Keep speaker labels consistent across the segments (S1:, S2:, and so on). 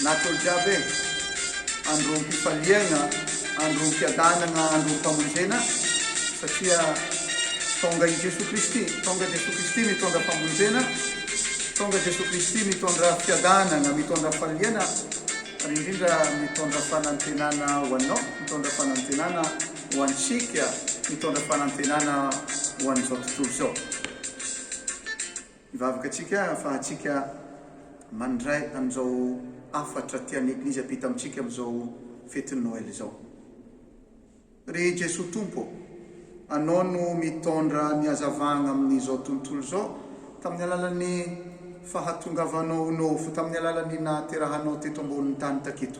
S1: Natao jiaby e! Androm-pifaliana, androm-piadanana, androm-pamonjena satria tonga i Jesoa Kristy. Tonga Jesoa Kristy mitondra famonjena, tonga Jesoa Kristy mitondra fiadanana, mitondra faliana ary indrindra mitondra fanantenana ho anao, mitondra fanantenana. ho antsika mitondra fanantenana ho an'izao tontolo izao. Hivavaka antsika ahafahantsika mandray an'izao hafatra tian'ny Eglizy hampita amintsika amin'izao fetin'ny Noely izao. Ry Jesoa Tompo ô, Anao no mitondra ny hazavana amin'izao tontolo izao tamin'ny alalan'ny fahatongavanao ho nofo tamin'ny alalan'ny nahaterahanao teto ambonin'ny tany taketo.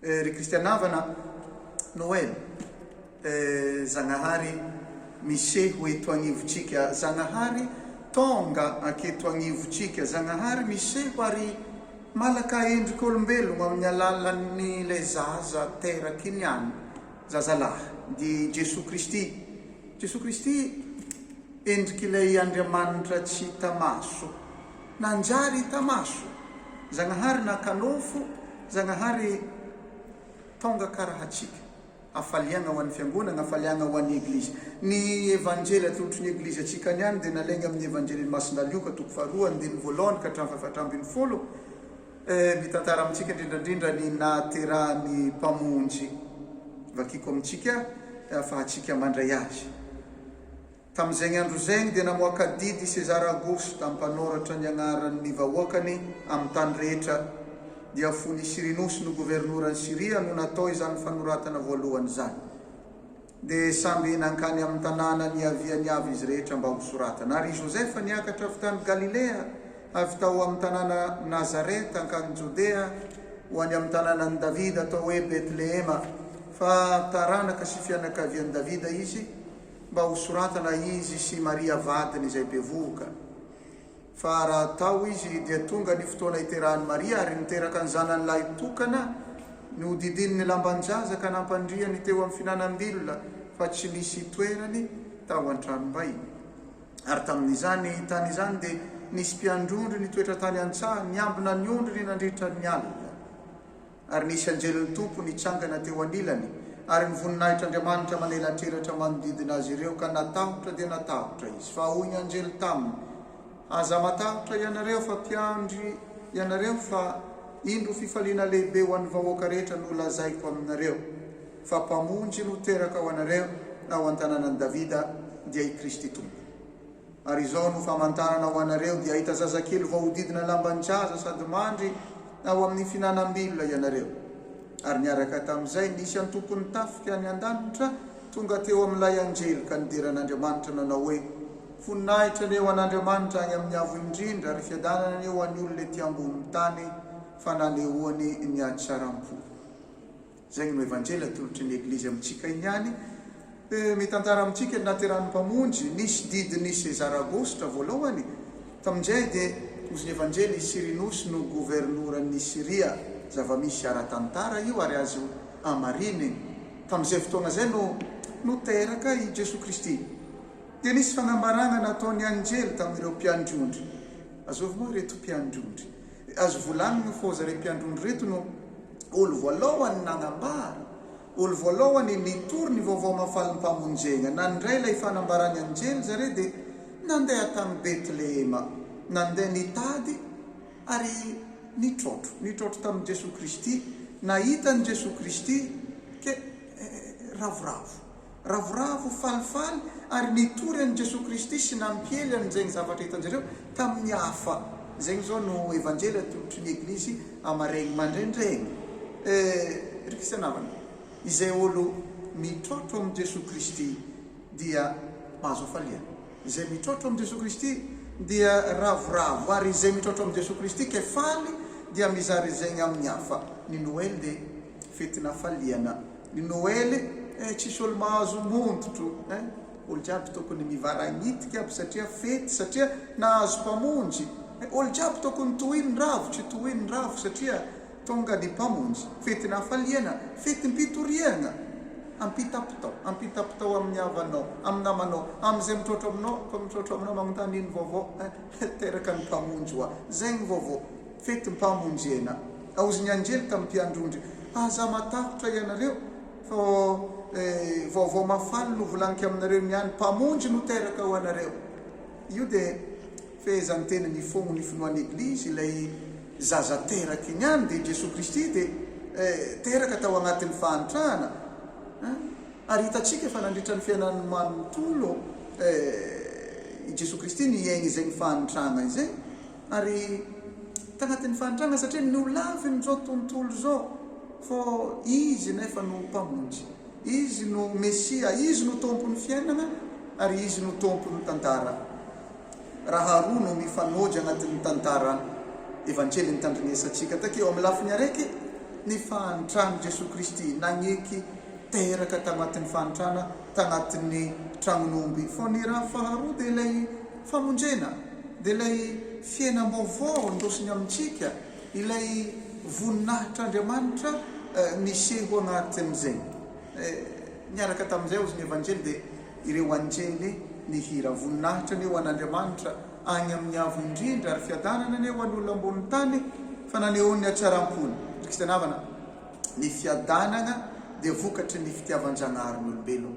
S1: Eh ry Kristy an'Havana, Noel eh Zagnahary miseho eto agnivotsika Zagnahary tonga aketo agnivotsika Zagnahary miseho ary malaka endrik'olombelogno amin'ny alalan'ny le zaza teraky ny any zazalahy dia i Jesoa Kristy Jesoa Kristy endrik'ilay Andriamanitra tsy hita maso. Nanjary hita maso, Zagnahary naka nofo, Zagnahary tonga ka rahatsika. Hafaliagna ho an'ny fiangonagna, hafaliagna ho an'ny Eglizy. Ny Evanjely atolotry ny Eglizy antsika ny any dia nalaigna amin'ny Evanjelin'i Masina Lioka toko faharoa andininy voalohany ka hatramin'ny fahefatra ambin'ny folo, mitantara amintsika indrindrandrindra ny nahaterahan'ny Mpamonjy. Vakiko amintsika afahantsika mandray azy. Tamin'izegny andro zegny dia namoaka adidy i César Augusto tamin'ny mpanoratra ny agnaran'ny vahoakany amin'ny tany rehetra, dia fony i Cyrinus no governoran'i Syria no natao izany fanoratana voalohany izany. Dia samby nankany amin'ny tanàna niaviany avy izy rehetra mba hosoratana. Ary i Joseph niakatra avy tany Galilea, avy tao amin'ny tanàna Nazareth hankany Jodea, ho any amin'ny tanànan'i Davida atao hoe Betlehema, fa taranaka sy fianakavian'i Davida izy, mba ho soratana izy sy Maria vadiny izay bevohoka. Fa raha tao izy dia tonga ny fotoana hiterahan'i Maria ary niteraka ny zanany lahy tokana, nohodidiany ny lamban-jaza ka nampandriany teo amin'ny fihinanam-bilona fa tsy nisy itoerany tao an-tranom-bay. Ary tamin'izany tany izany dia nisy mpiandry ondry nitoetra tany an-tsaha niambina ny ondriny nandritra ny alina. Ary nisy anjelin'ny Tompo nitsangana teo anilany, ary ny voninahitr'Andriamanitra manelatrelatra manodidina azy ireo, ka natahotra dia natahotra izy. Fa hoy ny anjely taminy, Aza matahotra ianareo, fa mpiandry ianareo, fa indro fifaliana lehibe ho an'ny vahoaka rehetra no lazaiko aminareo, fa Mpamonjy no teraka ho anareo, ao an-tanànan'i Davida, dia i Kristy Tompo. Ary izao no famantarana ho anareo, dia hahita zazakely voahodidina lamban-jaza sady mandry ao amin'ny fihinanam-bilona ianareo. Ary niaraka tamin'izay, nisy antokon'ny tafika any an-danitra tonga teo amin'ilay anjely ka nidera an'Andriamanitra nanao hoe, Voninahitra anie ho an'Andriamanitra any amin'ny Avo Indrindra ary fiadanana anie ho an'ny olona ety ambonin'ny tany fa nanehoany ny hatsaram-po. Izay no Evanjely atolotry ny Eglizy amintsika ihany. Mitantara amintsika ny nahaterahan'ny Mpamonjy, nisy didin'i César Agosta voalohany, tamin'izay dia ozon'ny Evanjely i Cyrinus no governoran'i Syria, zava-misy ara-tantara io ary azo amariny, tamin'izay fotoana izay no no teraka i Jesoa Kristy. Dia nisy fanambarana nataon'ny Anjely tamin'ireo mpiandry ondry. Azovy moa ireto mpiandry ondry? Azo volanina fa zareo mpiandrony reto no olo voalohany nagnambara, olo voalohany nitory ny vaovao mahafaly ny Mpamonjegna. Nandray ilay fanambaran'ny anjely zareo dia nandeha tany Betlehema, nandeha nitady ary nitrôtro, nitrôtro tamin'i Jesoa Kristy, nahita an'i Jesoa Kristy, ke ravoravo. Ravoravo falifaly ary nitory an'i Jesoa Kristy sy nampiely an'izegny zavatra hitanjareo tamin'ny hafa. Zegny zao no Evanjely atolotry ny Eglizy amaregny mandraindregny. Eh, ry Kristiana havana, izay olo mitrôtro amin'i Jesoa Kristy dia mahazo hafalia. Izay mitrôtro amin'i Jesoa Kristy dia ravoravo, ary izay mitrôtro amin'i Jesoa Kristy kay faly dia mizara izegny amin'ny hafa. Ny Noely dia Fetin'afaliana ny Noely eh, tsisy olo mahazo montotro eh, olo jiaby tokony mivaragnitika aby satria fety satria nahazo mpamonjy eh, olo jiaby tokony tohiny ny ravo tsy tohiny ny ravo satria tonga ny mpamonjy, fetin'afaliana, fetim-pitoriagna, ampitapitao, ampitapitao amin'ny havanao, amin'ny namanao, amin'izay mitrotro aminao, koa mitrotro aminao magnontany ino vaovao eh, teraka ny mpamonjy hoa, zegny vaovao. Fetim-pamonjena. Aozy ny anjely tamin'ny mpiandrondry, Aza matahotra ianareo, fa vaovao mahafaly no volanika aminareo niany, Mpamonjy no teraka ho anareo. Io dia fehezan'ny teny nifogno ny finoan'ny Eglizy, ilay zaza teraka iny ihany, dia Jesoa Kristy dia teraka tao agnatin'ny fahantrana, ary hitantsika fa nandritra ny fiainany manontolo i Jesoa Kristy niaigny izay ny fahantragna izay, Ary tanatin'ny fahantrana satria ny olona avy amin'izao tontolo izao fa Izy nefa no Mpamonjy, Izy no Mesia, Izy no Tompon'ny fiainana ary Izy no Tompon'ny tantara. Raha roa no mifanojo anatin'ny tantara Evanjelin'ny tandrinesantsika takia ao amin'ny lafiny araiky ny fahantran'i Jesoa Kristy nagneky teraka tamatin'ny fahantrana tanatin'ny tragnon'omby, fa ny raha faharoa dia ilay Famonjena dia ilay fiainam-baovao andosiny amintsika, ilay voninahitr'Andriamanitra niseho anaty an'izay. Niaraka tamin'izay aozy ny Evanjely dia ireo anjely nihira, Voninahitra anie ho an'Andriamanitra agny amin'ny avo indrindra, ary fiadanana anie ho an'olona ambonin'ny tany, fa nanehoany ny hatsaram-pony. Ry kristiana havana, ny fiadanagna dia vokatry ny fitiavan-Jagnahary ny olombelogno.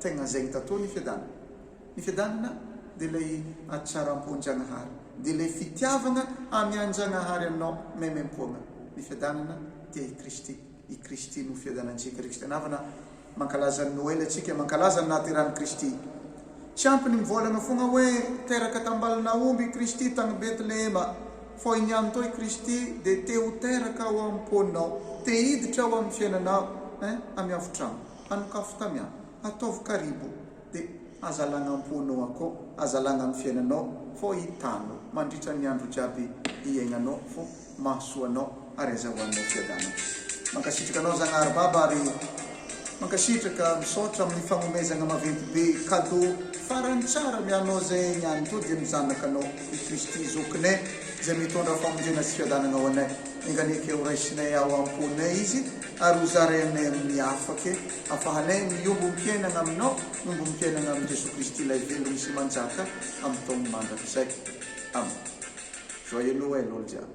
S1: Tegna zegny ta to ny fiadanana. Ny fiadanana dia ilay hatsaram-po an-Jagnahary, dia ilay fitiavagna amy an-Jagnahary anao maimaimpôgna. Ny fiadanana tia i Kristy. I Kristy no fiadanantsika. Ry Kristiana havana, mankalaza ny Noely antsika, mankalaza ny nahaterahan'i Kristy. Tsy ampy ny mivôlagna fôgna hoe teraka tambalon'aomby i Kristy tagny Betlehema, fô i niany tô i Kristy dia te ho teraka ao am-pônao, te hiditra ao amy fiainanao, eh, amy hafotragno. Hanokafo tamy an, ataovy karibo de hazalagna amponao akao hazalagna am fiainanao fô hitanao mandritra ny andro jiaby hiaignanao fô mahasoa anao ary azahoanao fiadanana mankasitraka anao zagnahary baba ary mankasitraka misaotra aminy fagnomezagna maventy be kadô farany tsara ny anao zay ny any to dia ny zanakanao i kristy zokinay zay mitondra famonjena sy fiadanagna ho anay enganie ke horaisinay ao amponay izy ary ho zarainay amin'ny hafa ke hafahanay miombom-piainana aminao, miombom-piainana amin'i Jesoa Kristy Ilay Velona sy Manjaka amin'ny taony mandrakizay. Amen. Joyeux Noël olo jiaby.